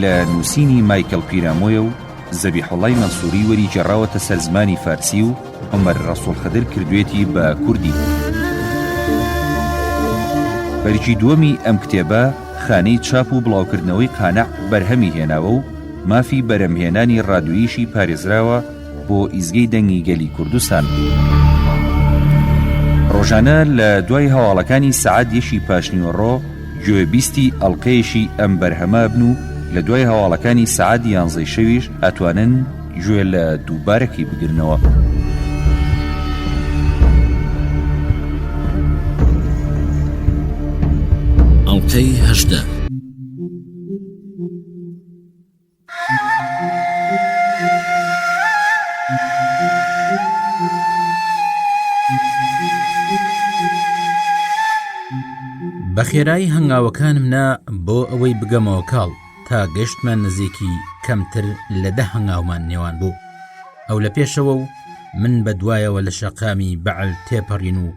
لە نووسینی مایکل پیرامۆیە و زەبیحوڵای مەنسووری وەری گێڕاوەتە سەر زمانی فارسی و عومەر ڕەسووڵ خدر کردوێتی بە کوردی. بەرگی دووەمی ئەم کتێبە خانەی چاپ و بڵاوکردنەوەی قانع بەرهەمی هێناوە و مافی بەرەمهێنانی ڕادووییشی پارێزراوە بۆ ئیزگەی دەنگی گەلی کوردستان. ڕۆژانە لە دوای هەواڵەکانی سعات یەکی پاشنیوەڕۆ گوێبیستی ئەڵلقەیەشی ئەم بەرهەمە بن و لە دوای هەواڵەکانی سعات یانزەی شەویش ئەتوانن گوێ لە دووبارەکی بگرنەوە. ئەڵلقەی هەژدە. بە خێرایی هەنگاوەکانم نا بۆ ئەوەی بگەمەوە کاڵ تا گەشتمە نزیکی کەمتر لە دە هەنگاومان نێوان بوو ئەو لە پێشەوە و من بە دوایەوە لە شەقامی بەعل تێپەڕین و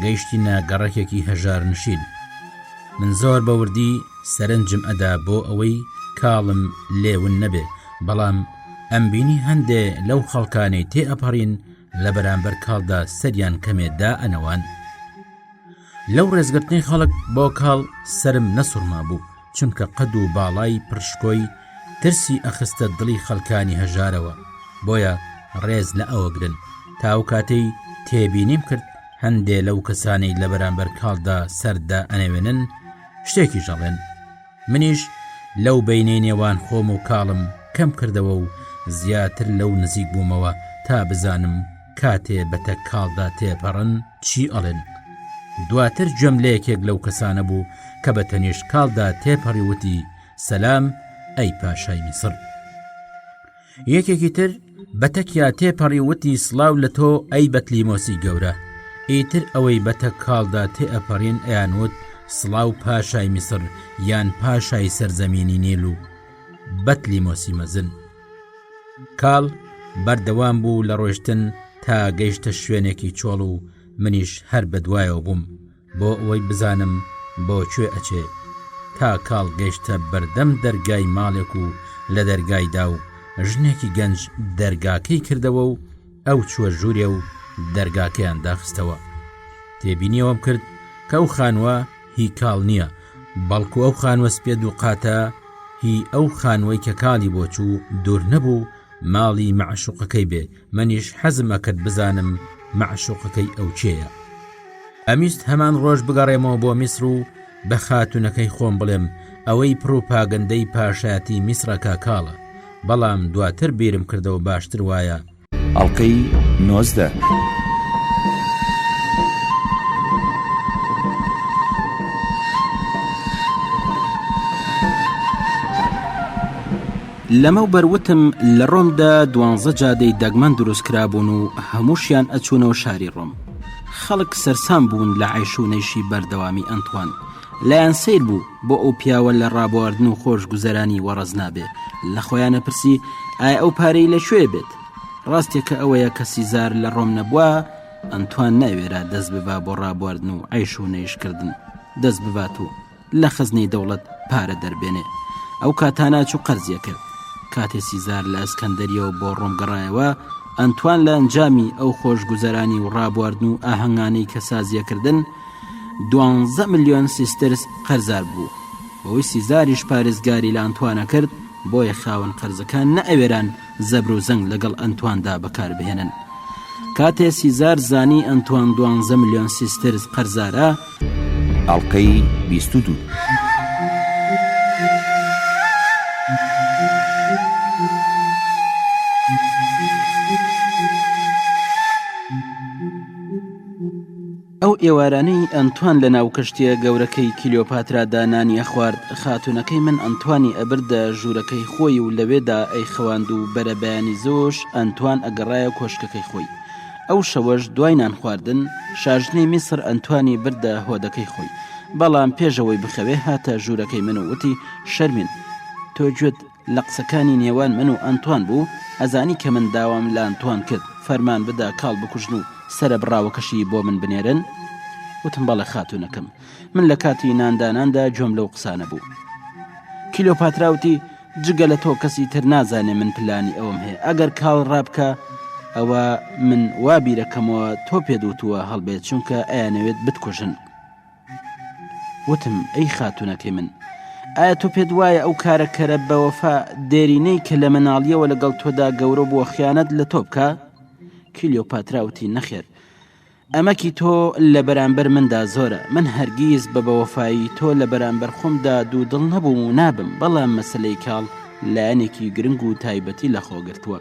گەیشتینە گەڕەکێکی هەژار نشین من زۆر بە وردی سەرنجم ئەدا بۆ ئەوەی کاڵم لێون نەبێ بەڵام ئەم بینی هەندێ لەو خەڵکانەی تێ ئەپەڕین لە بەرامبەر کاڵدا سەریان کەمێدا ئەنەوان لەو ڕێزگرتنی خەڵک بۆ کاڵ سرم نەسوڕما بوو چونکە قەد و باڵای پڕشکۆی ترسی ئەخستە دڵی خەلکانی هەژارەوە بۆیە ڕێز لە ئەوەگرن تاو کاتەی تێبینیم کرد هەندێ لەو کەسانی لە بەرامبەر کاڵدا سەردا ئەنەوێنن شتێکی ژەڵێن منیش لەو بینەی نێوان خۆم و کاڵم کەم کردەوە و زیاتر لەو نزیک بوومەوە تا بزانم کاتێ بە تەک کاڵدا تێپەڕن چی ئەڵێن دواتر جەم لە یەکێک لەو کەسانە بوو کە بە تەنیشت کاڵدا تێپەڕی وتی سەسلام ئەی پاشای میسر یەکێکی تر بە تەکیا تێپەڕی وتی سلااو لە تۆ ئەی بەتلیمۆسی گەورە ئیتر ئەوەی بەتە کاڵدا تێئەپەڕین ئەیانوت سلااو پاشای میسر یان پاشای سەرزەمینی نیل و بەتلیمۆسی مەزن کاڵ بەردەوام بوو لە ڕۆشتن تا گەیشتە شوێنێکی چۆڵ و منیش هەر بە دوایەوە بووم بۆ ئەوەی بزانم بۆ کوێ ئەچێ تا کاڵ گەیشتە بەردەم دەرگای ماڵێک و لە دەرگایدا و ژنێکی گەنج دەرگاکەی کردەوە و ئەو چوە ژوورێ و دەرگاکەیان داخستەوە تێبینیەوەم کرد کە ئەو خانووە هی کاڵ نییە بەڵکو ئەو خانوە سپێ دووقاتە هی ئەو خانوەی کە کاڵی بۆچوو دوور نەبوو ماڵی مەعشوقەکەی بێ منیش حەزمە کرد بزانم مەعشوقەکەی ئەو چێە ئەمیست هەمان ڕۆژ بگەڕێمەوە بۆ میسر و بە خاتونەکەی خۆم بڵێم ئەوەی پروپاگەندەی پاشایەتی میسرەکە کاڵە بەڵام دواتر بیرم کردەوە باشتر وایە ئەڵقەی نۆزدە. لەمەوبەر وتم لە ڕۆمدا دوانزە جادەی دەگمەن دروست کرابوون و هەمووشیان ئەچوونەوە شاری ڕۆم خەڵک سەرسام بوون لە عیشوونەیشی بەردەوامی ئەنتوان لایان سەیر بوو بۆ ئەو پیاوە لە ڕابواردن و خۆش گوزەرانی وەڕز نابێ لە خۆیانە پرسی ئای ئەو پارەی لە کوێ بێت ڕاستێکە ئەوەیە کە سیزار لە ڕۆم نەبووە ئەنتوان ناوێرا دەست ببا بۆ ڕابواردن و عیش و نەیشکردن دەست ببات و لە خزنەی دەوڵەت پارە دەربێنێ ئەو کاتاناچ و قەرزیە کرد کاتێ سیزار لە ئەسکەندەریەوە بۆ ڕۆم گەڕایەوە ئەنتوان لە ئەنجامی ئەو خۆش گوزەرانی و ڕابواردن و ئاهەنگانەی کە سازیەکردن دوانزە ملیۆن سیسترس قەرزار بوو بەوەی سیزاریش پارێزگاری لە ئەنتوانە کرد، بۆیە خاوەن قەرزەکان نەئەوێران زەبر و زەنگ لەگەڵ ئەنتواندا بەکاربهێنن. کاتێ سیزار زانی ئەنتوان دوانزە ملیۆن سیسترس قەرزارە، ئەڵقەی بیست و دوو. ئەو ئێوارانەی ئەنتوان لە ناو کەشتییە گەورەکەی کلیۆپاترادا نانی ئەخوارد، خاتوونەکەی من ئەنتوانی ئەبردە ژوورەکەی خۆی و لەوێدا ئەیخەواند و بەرەبەیانی زۆش ئەنتوان ئەگەڕایە کۆشکەکەی خۆی. ئەو شەوەش دوای نانخواردن، شاژنی میسر ئەنتوانی بردە هۆدەکەی خۆی، بەڵام پێش ئەوەی بخەوێ هاتە ژوورەکەی من و وتی، شەرمین! تۆ گوێت. لە قسەکانی نێوان من و ئەنتوان بوو، ئەزانی کە من داوام لە ئەنتوان کرد فەرمان بدا کاڵ بکوژن و سەرە بڕاوەکەشی بۆ من بنێرن؟ وتم بەڵێ خاتوونەکەم. من لە کاتی نانداناندا گوێم لەو قسانە بوو. کلیۆپاترا وتی، جگە لە تۆ کەسی تر نازانێ من پلانی ئەوەم هەیە، ئەگەر کاڵ ڕابکا، ئەوا من وا بیرەکەمەوە تۆ پێت وتووە هەڵبێت، چونکە ئەیانەوێت بتکوژن. وتم، ئەی خاتوونەکەی من، ئایا تۆ پێت وایە ئەو کارە کەرە بەوەفا دێرینەی کە لە منداڵییەوە لەگەڵ تۆدا گەورە بووە خیانەت لە تۆ بکا؟ کلیۆپاترا وتی، نەخێر، ئەمەکی تۆ لە بەرانبەر مندا زۆرە، من هەرگیز بە بەوەفایی تۆ لە بەرانبەر خۆمدا دوودڵ نەبووم و نابم، بەڵام مەسەلەی کاڵ لایەنێکی گرنگ و تایبەتی لەخۆ گرتووە.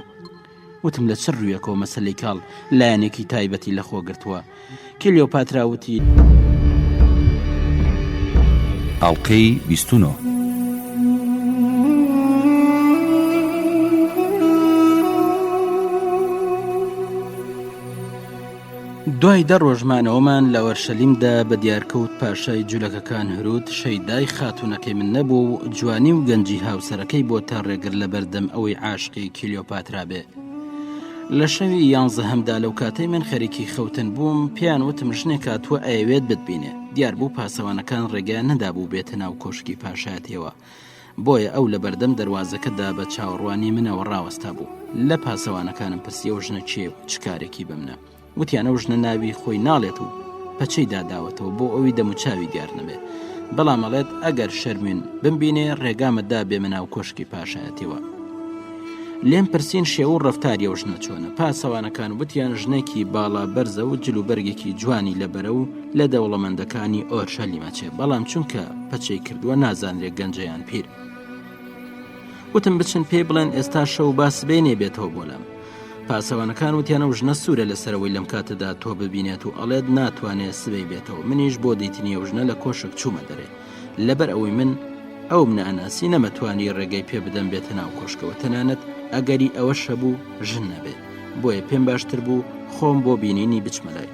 وتم لە چ ڕویەکەوە مەسەلەی کاڵ لایەنێکی تایبەتی لە خۆ گرتووە کلیۆپاترا وتی. ئەڵلقەی بیستونۆ. دوای دە ڕۆژ مانەوەمان لە وەرشەلیمدا بە دیارکەوت پاشای جولەکەکان هەرود شەیدای خاتونەکەی من نەبوو و جوانی و گەنجی هاوسەرەکەی بۆ تا ڕێگر لە بەردەم ئەوەی عاشقی کیلیۆپاترا بێ لە شەوی یانزە هەمدا لەو کاتەی من خەریکی خەوتن بووم پیان وتم ژنێک کاتووە ئەیەوێت بتبینێ دیار بوو پاسەوانەکان ڕێگەیان نەدابوو بێتە ناو کۆشکی پاشایەتەوە بۆیە ئەو لە بەردەم دەروازەکە دا بە چاوەڕوانی منەوە ڕاوەستا بوو. لە پاسەوانەکانم پرسی ئەو ژنە کێیە و چ کارێکی بە منە؟ وتیان ئەو ژنە ناوی خۆی ناڵێت و پەچەی داداوەتەوە بۆ ئەوی دەموچاوی دیار نەبێ. بەڵام ئەڵێت ئەگەر شەرموین بمبینێ ڕێگامە دا بێمە ناو کۆشکی پاشایەتیەوە. لێم پرسین شێوە و ڕەفتاری ئەو ژنە چۆنە؟ پاسەوانەکان وتیان ژنێکی باڵا بەرزە و جل و بەرگێکی جوانی لەبەرە و، لە دەوڵەمەندەکانی ئۆرشەلیمە چێ بەڵام چونکە پەچەی کردووە نازانرێ گەنجەیان پیر وتم بچن پێی بڵێن ئێستا شەو با سبێ نێبێتەوە بۆ لام پاسەوانەکان وتیانە و ژنە سوورە لەسەرەوەی لەم کاتەدا تۆ ببینێت و ئەڵێت ناتوانێت سبەی بێتەوە منیش بۆ دیتنیە و ژنە لە کۆشک چوومە دەرێ لەبەر ئەوەی من ئەو مناناسی نەمەتوانی ڕێگەی پێ بدەم بێتە ناو کۆشکەوە تەنانەت ئەگەری ئەوە شەبوو ژن نەبێت بۆیە پێم باشتر بوو خۆم بۆ بینینی بچمەلای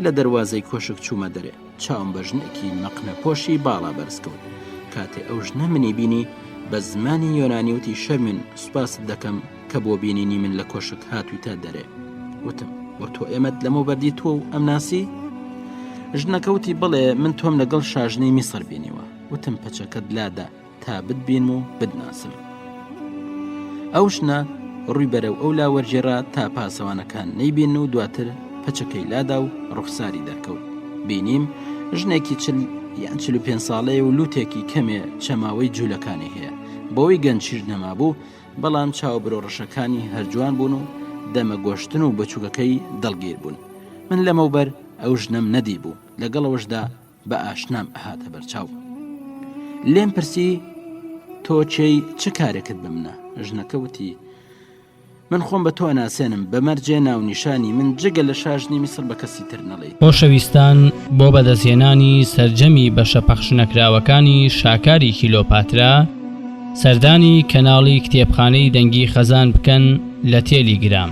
لە دەروازەی کۆشک چوومە دەرێ چاوم بە ژنێکی مەقنە پۆشی باڵا بەرزکەوت کاتێ ئەو ژنە منی بینی بە زمانی یۆنانی وتی شەرمن سوپاست دەکەم کە بۆ بینینی من لە کۆشک هاتوویتە دەرێ وتم وە تۆ ئێمەت لەمە بەردی تۆ و ئەم ناسی ژنەکەوتی بڵێ من تۆم لەگەڵ شاژنەی میسر بینیوە وتم پەچەکەت لادا تا بتبینم و بتناسم ئەو ژنە ڕووی بەرەو ئەو لا وەرجێرا تا پاسەوانەکان نەیبین و دواتر پەچەکەی لادا و ڕوخساری دەرکەوت بینیم ژنێکی چل یان چل پێ ساڵەیە و لوتێکی کەمێ چەماوەی جوولەکانی هەیە بۆی گەنجیش نەمابوو بەڵام چاو برۆ ڕەشەکانی هەرجوان بوون و دەمە گۆشتن و بچووکەکەی دڵگیر بوون من لەمەوبەر ئەو ژنەم نەدی بوو لەگەڵەوەشدا بە ئاشنام ئەهاتە بەرچاو لێم پرسی تۆ چێی چ کارێکت بە منە ژنەکە وتی من خۆم بە تۆ ناسێنم بەمەرجێ ناونیشانی من جگە لە شاژنی میسر بە کەسی تر نەڵێ خۆشەویستان بۆ بەدەستهێنانی سەرجەمی بەشە پەخشنەکراوەکانی شاکاری کیلۆپاترا سەردانی کەناڵی کتێبخانەی دەنگی خەزان بکەن لە تێلی گرام.